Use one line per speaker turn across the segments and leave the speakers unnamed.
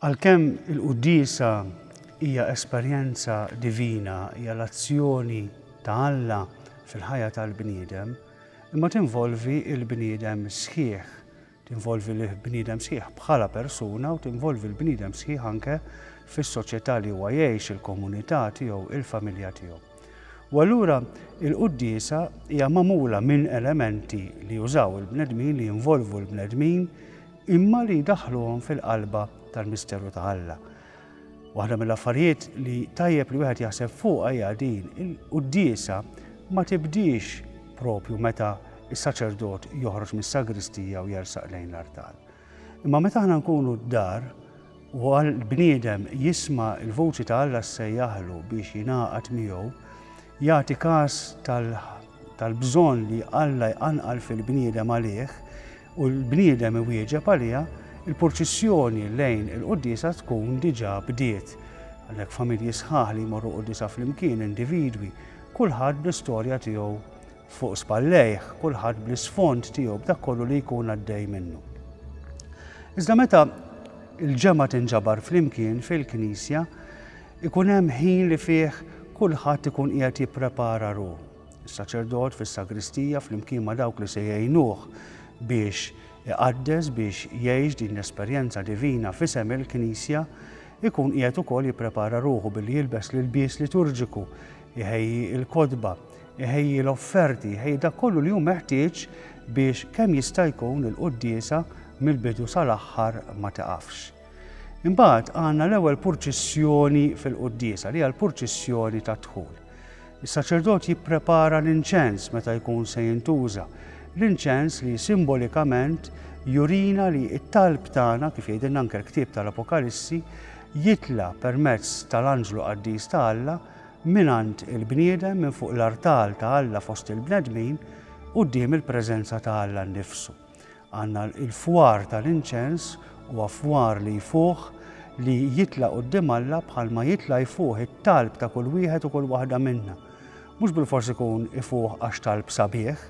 Għalkemm il-quddiesa hija esperjenza divina, hija l-azzjoni ta' Alla fil-ħajja tal-bniedem, imma tinvolvi l-bniedem sħiħ Tinvolvi lill-bniedem sħiħ bħala persuna u tinvolvi l-bniedem sħiħ anke fis-soċjetà li huwa jgħix, il-komunità tiegħu, il-familja tiegħu. U allura il-quddiesa hija magħmula minn elementi li jużaw il-bnedmin, li jinvolvu l-bnedmin, imma li jdaħħluhom fil-qalba tal-misteru ta' Alla. Waħda mill-affarijiet li tajjeb li wieħed jaħseb fuqha hija din, il-quddiesa ma tibdiex propju meta s-saċerdot joħroġ mis-sagristija u jersaq lejn l-artal. Imma meta aħna nkunu d-dar u għal bniedem jisma' l-vuċi ta' Alla ssejjaħlu biex jingħaqad miegħu, jagħti każ tal-bżonn li Alla jqanqal fil-bniedem għalih, u l-bniedem iwieġeb għaliha, il-purċissjoni lejn il-quddiesa tkun diġà bdiet. Għalhekk familji sħaħ li jmorru quddiesa flimkien, individwi, kulħadd bl-istorja tiegħu fuq spallejh, kulħadd bl-isfond tiegħu, b'dak kollu li jkun għaddej minnu. Iżda meta il-ġemgħa tinġabar flimkien fil-knisja, ikun hemm ħin li fih kulħadd ikun qiegħed jipprepara ruħu. Is-saċerdot fis-sagristija flimkien ma' dawk li se jgħinuh biex iqaddes, biex jgħix din l-esperjenza divina f'isem il-Knisja, ikun qiegħed ukoll jipprepara ruħu billi jilbes l-ilbies liturġiku, iħejji l-kotba, iħejji l-offerti, iħejji dak kollu li hu meħtieġ biex kemm jista' jkun il-quddiesa mill-bidu sal-aħħar ma tiqafx. Imbagħad għandna l-ewwel purċissjoni fil-quddiesa li hija l-purċissjoni tad-dħul. Is-saċerdot jipprepara l-inċens meta jkun se jintuża, l-inċens li simbolikament jurina li t-talb tagħna, kif jgħidilna anke l-ktieb tal-Apokalissi, jitla' permezz tal-anġlu qaddis ta' Alla mingħand il-bniedem minn fuq l-artal ta' Alla fost il-bnedmin quddiem il-preżenza ta' Alla nnifsu. Għandna l-fwar tal-inċens huwa fwar li jfuħ li jitla' quddiem Alla bħalma jitla' jfuħ it-talb ta' kull wieħed u kull waħda minna. Mhux bilfors ikun ifuħ għax talb sabiħ,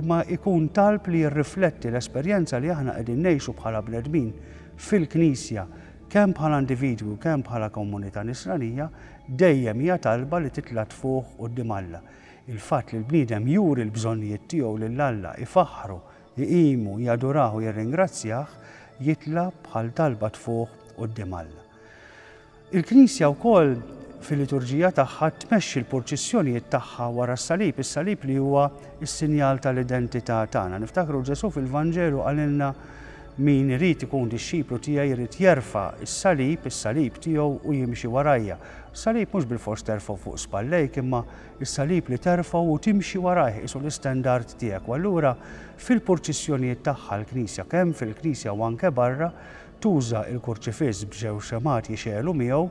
imma jkun talb li jirrifletti l-esperjenza li aħna qegħdin ngħixu bħala bnedmin fil-Knisja, kemm bħala individwi u kemm bħala komunità Nisranija, dejjem hija talba li titla' tfuħ quddiem Alla. Il-fatt li l-bniedem juri l-bżonnijiet tiegħu lil Alla, ifaħħru, iqimu, jadurah u jirringrazzjah, jitla' bħal talba tfuħ quddiem Alla. Il-Knisja wkoll fil-liturġija tagħha tmexxi l-purċissjonijiet tagħha wara s-Salib, is-Salib li huwa s-sinjal tal-identità tagħna. Niftakru Ġesù fil-Vanġelu qalilna min irid ikun dixxiplu tiegħi jrid jerfa' s-Salib, is-Salib tiegħu u jimxi warajja. Salib mhux bilfors terfgħu fuq spallejk imma Is-salib li terfgħu u timxi warajh qisu l-istendard tiegħek u allura fil-purċissjonijiet tagħha l-Knisja, kemm fil-Knisja u anke barra, tuża l-kurċifiss b'żewġ xemgħat jixegħlu miegħu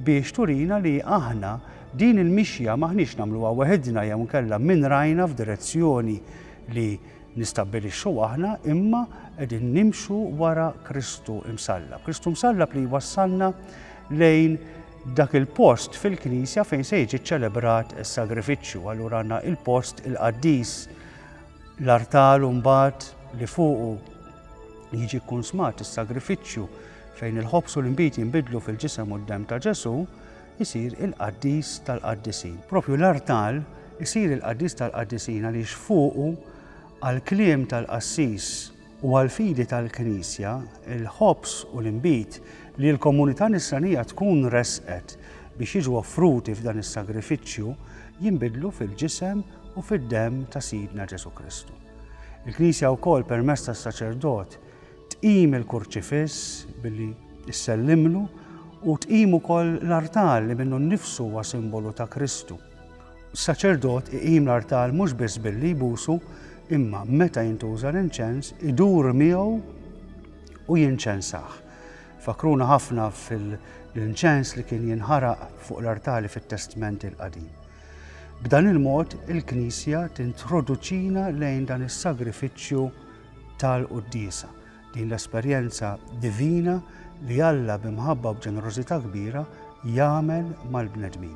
biex turina li aħna din il-mixja m'aħniex nagħmluha weħidna jew inkella min rajna f'direzzjoni li nistabbilixxu aħna imma qegħdin nimxu wara Kristu Msallab. Kristu Msallab li jwassalna lejn Dak il-post fil-knisja fejn se jiġi ċċelebrat is-sagrifiċċju, allura għandna il-post il-qaddis, l-artal mbagħad li fuqu jiġi kkunsmat is-sagrifiċċju fejn il-ħobż u l-inbid jinbidlu fil-ġisem u d-demm ta' Ġesù, isir il-qaddis tal-qaddisin. Propju l-artal isir il-qaddis tal-qaddisin għaliex fuqu għall-kliem tal-qassis u għall-fidi tal-Knisja, il-ħobż u l-inbid li l-komunità Nisranija tkun ressqet biex jiġu offruti f'dan is-sagrifiċċju jinbidlu fil-ġisem u fid-demm ta' Sidna Ġesù Kristu. Il-Knisja wkoll permezz tas-saċerdot tqim il-kurċifiss billi ssellimlu u tqim ukoll l-artal li minnu nnifsu huwa simbolu ta' Kristu. Saċerdot iqim l-artal mhux biss billi jbusu, imma meta jintuża l-inċens idur miegħu u jinċensah. Fakruna ħafna fil-inċens li kien jinħaraq fuq l-artali fit-Testment il-Qadim. B'dan il-mod il-Knisja tintroduċina lejn dan is-sagrifiċċju tal-Quddiesa, din l-esperjenza divina li Alla b'imħabba u b'ġenerożità kbira jagħmel mal-bnedmin.